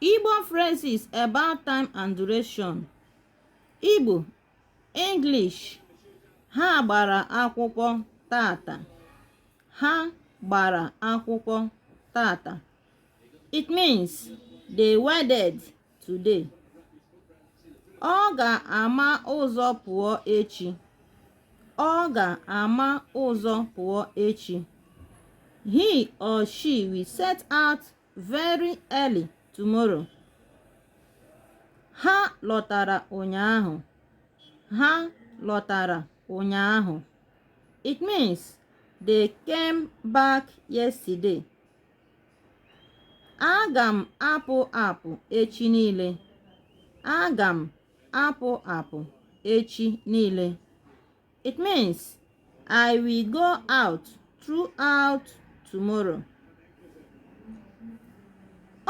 Igbo phrases about time and duration Igbo English ha gbara akwụkwọ tata ha gbara akwụkwọ tata it means they wedded today ọ ga-ama ụzọ pụọ echi ọ ga-ama ụzọ pụọ echi he or she will set out very early tomorrow ha lọtara ụnyaahụ ha lọtara ụnyaahụ it means they came back yesterday aga m apụ apụ echi niile aga m apụ apụ echi niile it means i will go out throughout tomorrow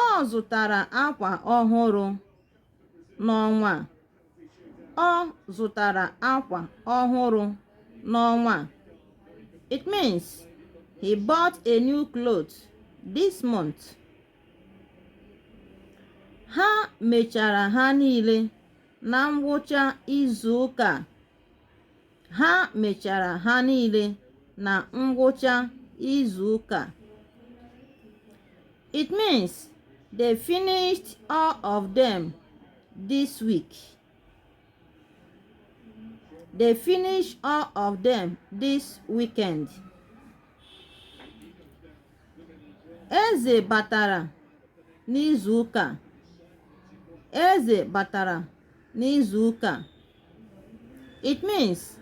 ọ zụtara akwa ọhụrụ n'ọnwa a. Ọ zụtara akwa ọhụrụ n'ọnwa a. It means he bought a new cloth this month. Ha mechara ha niile na ngwụcha izuụka ha mechara ha niile na ngwụcha izu ụka it means they finished all of them this week they finish all of them this weekend eze batara n'izu ụka eze batara n'izu ụka It means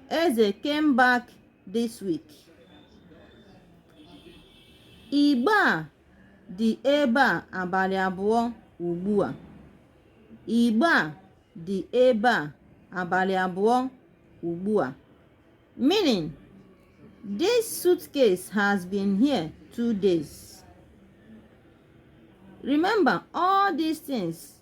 Eze came back this week. Igbe a dị ebe a abalị abụọ ugbu a. Igbe a dị ebe a abalị abụọ ugbu a. Meaning, this suitcase has been here two days. Remember, all these things